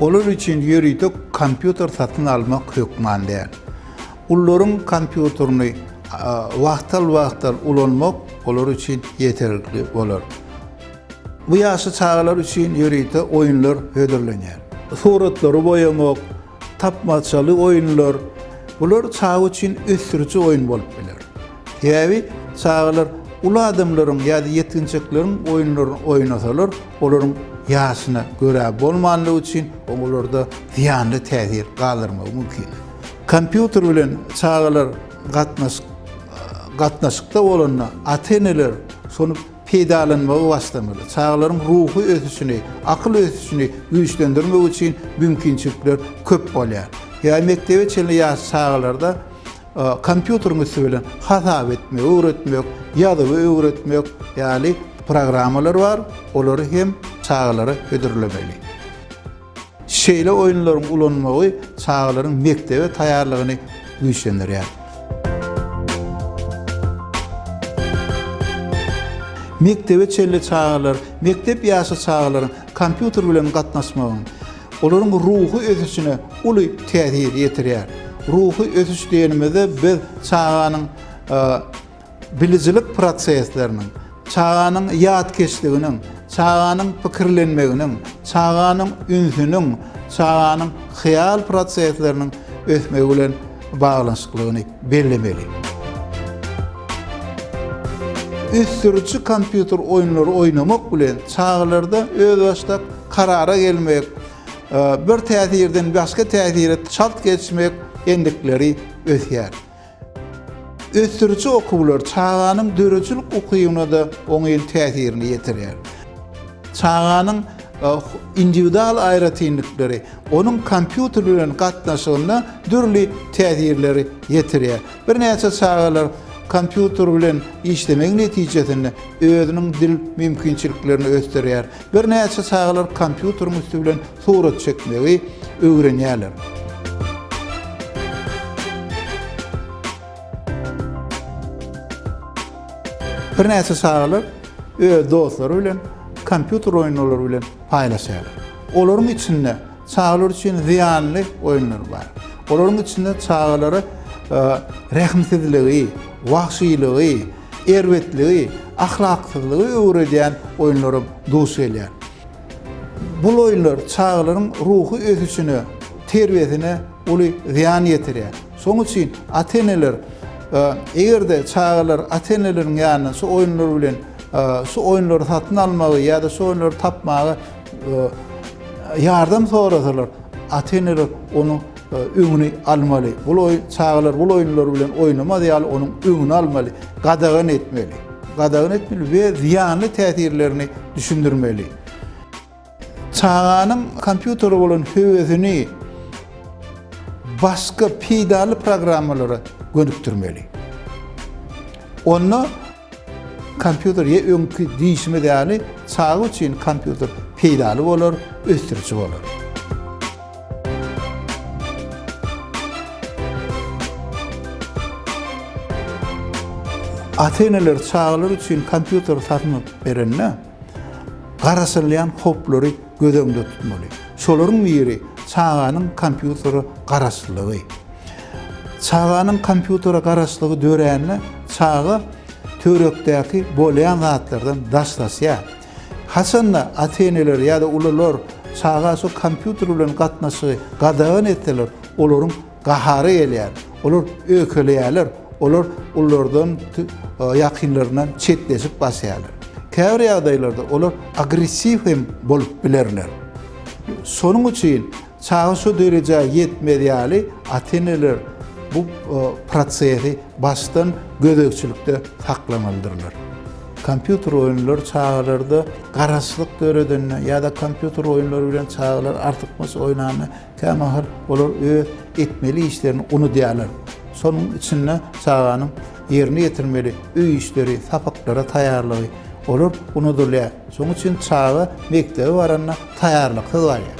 Olar üçin ýörite kompýuter satyn almak hökman däl. Ullaryň kompýuterini wagtal-wagtal ulanmak olar üçin ýeterlikli bolar. Bu ýaşly çagalar üçin ýörite oýunlar hödürlenýär. Suratlary boýamak, tapmaçaly oýunlar, bular çaga üçin ösdüriji oýun bolup biler. Sebäbi çagalar uly adamlaryň ýa-da ýetginjekleriň oýunlaryny oýnasalar, olaryň ýaşyna görä bolmandygy üçin oň olarda zyýanly täsir galdyrmagy mümkin. Kompýuter bilen çagalar gatnaşyk gatnaşykda bolanda ata-eneler şony peýdalanmagy başlamaly. Çagalaryň ruhy ösüşini, akyl ösüşini güýçlendirmek üçin mümkinçilikler köp bolýar. Ýa mekdebe çenli ýaş çagalarda kompýuteriň üsti bilen hasap etmegi öwretmek, ýazuwy öwretmek ýaly programmalar bar, olary hem çagalara hödürlemeli. Şeýle oýunlaryň ulanmagy çagalaryň mekdebe taýýarlygyny güýçlendirýär. Mekdebe çenli çagalar mekdep ýaşy çagalaryň kompýuter bilen gatnaşmagyň olaryň ruhy ösüşine uly täsir ýetirýär. Ruhy ösüş diýenimizde biz çaganyň Bilijilik prosesleriniň, çaganyň ýatkeşliginiň, çaganyň pikirlenmeginiň, çaganyň ünsüniň, çaganyň hyýal prosesleriniň ösmegi bilen baglanyşyklygyny bellemeli. Ösdüriji kompýuter oýunlary oýnamak bilen çagalarda özbaşdak karara gelmek, bir täsirden başga täsire çalt geçmek endikleri ösýär. Ösdüriji okuwlar çaganyň döredijilik ukybyna-da oňyn täsirini ýetirýär. Çaganyň indiwidual aýratynlyklary onuň kompýuter bilen gatnaşygyna dürli täsirleri ýetirýär. Birnäçe çagalar kompýuter bilen işlemegi netijesinde özüniň dil mümkinçiliklerini ösdürýär. Birnäçe çagalar kompýuteriň üsti bilen Surat çekmegi öwrenýärler. Birnäçe çagalar öz dostlary bilen kompýuter oýunlary bilen paýlaşýarlar. Olaryň içinde çagalar üçin zyýanly oýunlar bar. Olaryň içinde çagalara e, rehimsizligi, wahşylygy, erbetligi, ahlaksyzlygy öwredýän oýunlara duş gelýär. Bul oýunlar çagalaryň ruhy ösüşine, terbiýesine uly zyýan ýetirýär. Şoň üçin ata-eneler, eger-de çagalar ata-eneleriň ýanyna şu oýunlar bilen, şu oýunlary satyn almagy ýa-da şu oýunlary tapmaga ýardam sorasalar, ata-eneler onuň öňüni almaly. Bul oýun çagalar bul oýunlar bilen oýnamaz ýaly onuň öňüni almaly, gadagan etmeli. Gadagan etmeli we zyýanly täsirlerini düşündirmeli. Çaganyň kompýutere bolan höwesini başga peýdaly programmalara gönükdirmeli. Onda Kompýuter ýa öňki diýşimiz ýaly çaga üçin kompýuter peýdaly bolar, ösdüriji bolar. Ata-eneler çagalar üçin kompýuter satyn alyp berende, garaşylýan howplary göz öňünde tutmaly. Şolaryň biri çaganyň kompýutere garaşlygy. Çaganyň kompýutere garaşlygy dörände çaga töwerekdäki bolýan zatlardan daşlaşýar. Haçanda ata-eneler ýa-da ulular çaga şu kompýuter bilen gatnaşygy gadagan etseler, olaryň Gahary gelýär. Olar öýkeleýärler. Olar ulardan, ýakynlaryndan çetleşip basýarlar. Käbir ýagdaýlarda olar agressiw hem bolup bilerler. Şonuň üçin çaga şu derejä ýetmez ýaly ata-eneler bu prosesi başdan gözegçilikde saklamalydyrlar. Kompýuter oýunlary çagalarda garaşlyk döredende ýa-da kompýuter oýunlary bilen çagalar artykmaç oýnanda, Kämahal olar öz etmeli işlerini unudýarlar. Şonuň içinde çaganyň ýerine ýetirmeli öý işleri, sapaklara taýýarlygy, olar unudylýar. Şonuň üçin çaga mekdebe baranda taýýarlyksyz barýar.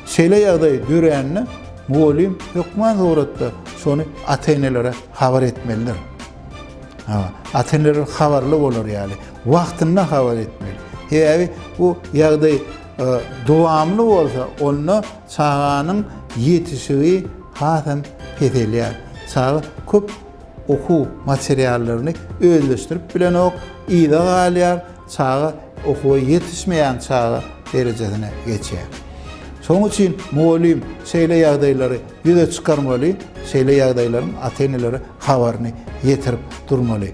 Şeýle ýagdaý dörände mugallym hökman suratda şony ata-enelere habar etmelidir. Ata-eneler habarly bolar ýaly, wagtynda habar etmeli. Sebäbi bu ýagdaý Dowamly bolsa, onda çaganyň ýetişigi has hem peselýär. Çaga köp okuw materiallaryny özleşdirip bilenok, yza galýar, çaga okuwa ýetişmeýän çaga derejesine geçýär. Şonuň üçin mugallym şeýle ýagdaýlary ýüze çykarmaly, şeýle ýagdaýlaryň ata-enelere habaryny ýetirip durmaly.